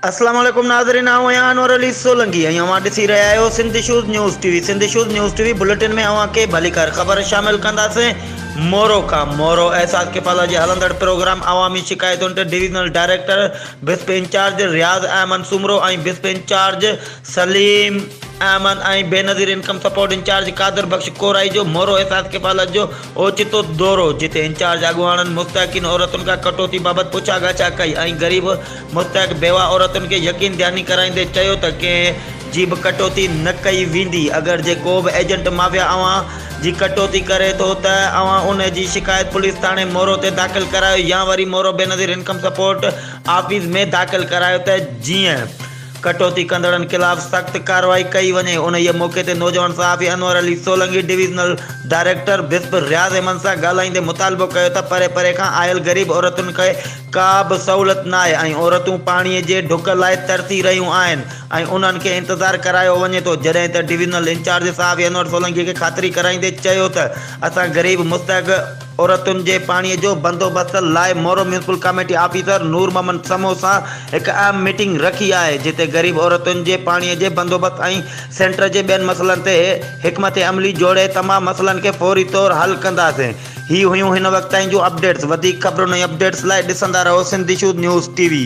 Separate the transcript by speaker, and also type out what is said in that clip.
Speaker 1: السلام عليڪم ناظرين آئون آهيان انور علي سولنگي ۽ اوهان ڏسي رهيا آهيو Sindh issues news T V Sindh issues news T V bulletin ۾ اوهان کي ڀليڪار خبر شامل ڪنداسين مورو کان مورو احساس ڪفالا جي هلندڙ پروگرام عوامي شڪايتن تي divisional director BISP incharge Riaz Ahmed Soomro ۽ BISP incharge Saleem Ahmed ۽ Benazir income support incharge Qadir Bux Korai جو مورو احساس ڪفالت جو اوچتو دورو جتي انچارج اڳواڻن مستحقين عورتن کان ڪٽوتي بابت پڇا ڳاڇا ڪئي ۽ غريب مستحق بيوه عورتن کي يقين دهاني ڪرائيندي چيو ته ڪنهن جي به ڪٽوتي نه ڪئي ويندي اگر جي ڪو به ايجنٽ مافيا اوهان جي ڪٽوتي ڪري ٿو ته اوهان ان جي شڪايت پوليس ٿاڻي مورو تي داخل ڪرايو يا وري Moro Benazir income support office ۾ داخل ڪرايو ته جيئن ڪٽوتي ڪندڙن خلاف سخت ڪارروائي ڪئي وڃي، انهيء موقعي تي نوجوان صحافي Anwar Ali Solangi divisional director BISP Riaz Ahmed سان ڳالهائيندي مطالبو ڪيو ته پري پري کان آيل غريب عورتن کي ڪا به سهولت ناهي ۽ عورتون پاڻي جي ڍڪ لاء ترسي رهيون آهن ۽ انهن کي انتظار ڪرايو وڃي ٿو جڏهن ته ڊويزنل انچارج صحافي انور سولنگي کي خاطري ڪرائيندي چيو ته اسان غريب مستحق عورتن جي پاڻي جو بندوبست لاء Moro municipal committee officer Noor Muhammad Samoon سان هڪ اهم ميٽنگ رکي آهي، جتي غريب عورتن جي پاڻي جي بندوبست ۽ سينٽر جي ٻين مسئلن تي حڪمت عملي جوڙي تمام مسئلن کي فوري طور حل ڪنداسين. هي هيون هن وقت تائين جون اپڊيٽس، وڌيڪ خبرن ۽ اپڊيٽس لاء ڏسندا رهو Sindh issues news T V.